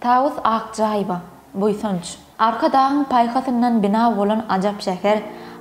Tawus Akjaýewa, Buýsanç. Arkadagyň paýhasyndan bina bolan ajap şäher,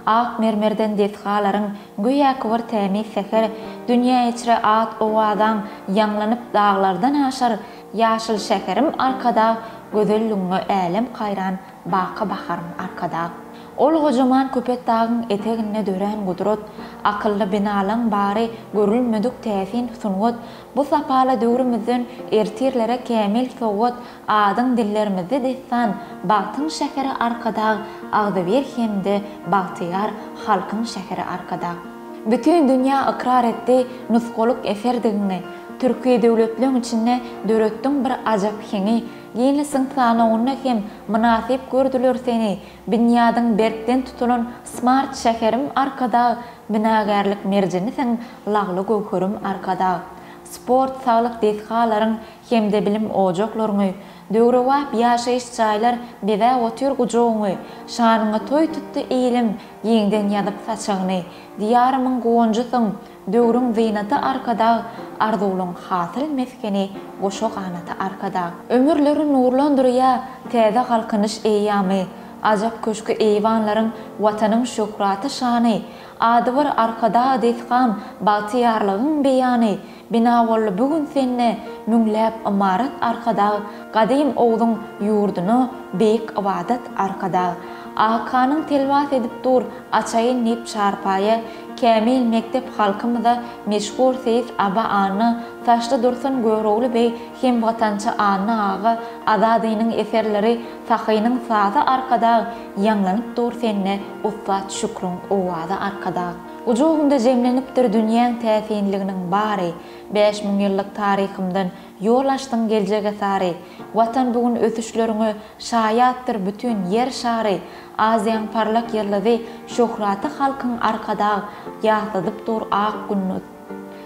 Ak mermerden desgalaryň göýäki bir tämiz säher, Dünýä içre at-owazaň ýaňlanyp daglardan aşar, Ýaşyl şäherim Arkadag, gözelligiňe älem haýran, Baky baharym Arkadag. Ol gojaman Köpetdagyň eteginde dörän gudrat, Akylly binalaň bary görülmedik täsin sungat, Bu sapala döwrümizden ertirlere kämil sowgat, adyň dillerimizde dessan, Bagtyň şäheri Arkadag, agzybir hem-de bagtyýar halkyň şäheri Arkadag. Bütin dünýä ykrar etdi nusgalyk eserdigiňi, türki döwletleň içinde döretdiň bir ajap heňi, ginnesiň sanawynda hem mynasyp gördüler seni, Binýadyň berkden tutulan Smart şäherim Arkadag, binagärlik merjenisiň Lagly göwherim Arkadag, sport-saglyk desgalaryň hem-de bilim ojaklaryňy, döwrebap ýaşaýyş jaýlar bezäp otyr gujagyňy, şanyňa toý tutdy ilim, giňden ýazyp saçagyny, Diýarymyň guwanjysyň, Döwrüň zynaty Arkadag, Arzuwlaň hasyl mesgeni goşa ganaty Arkadag. Ömürleri nurlandyrýa Täze Galkynyş eýýamy, Ajap köşki eýwanlaryň Watanyň şöhraty şany, Ady bir Arkadag desgan Bagtyýarlygyň beýany, Bina boldy bu gün sende Müňläp ymarat Arkadag, Gadym Ogzuň ýurduna Beýik ybadat Arkadag. Akanyň telwas edip dur Açaýyn diýip çarpaýa, Kämil mekdep halkymyza meşhur seýis Aba Anna, Taşly Dursun Görogly beý hem watançy Anna aga, Azadynyň eserleri, Sahynyň sazy Arkadag, ýaňlanyp dur sende ussat Şükriň owazy Arkadag. Gujagymda jemlenipdir dünýäň täsinliginiň bary, Bäş müň ýyllyk taryhymdan ýol açdyň geljege sary. Watan bu gün ösüşleriňe şaýatdyr bütin Ýer şary, Aziýaň parlak ýyldyzy şöhraty halkyň Arkadag ýatladyp dur ak günduz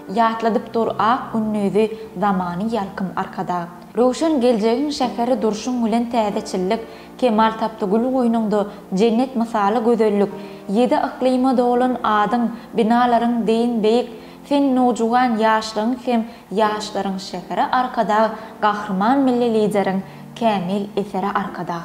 Ýatladyp dur ak gündizi zamany ýalkym Arkadag. Röwşen geljegiň şäheri durşuň bilen Täzeçillik kemal tapdy gül goýnuňda Jennet mysaly gözellik Ýedi yklyma dolan adyň Binalaryň deýin beýik Sen nowjuwan ýaşlygyň hem ýaşlaryň şäheri Arkadag Gahryman Milli Lideriň kämil eseri Arkadag.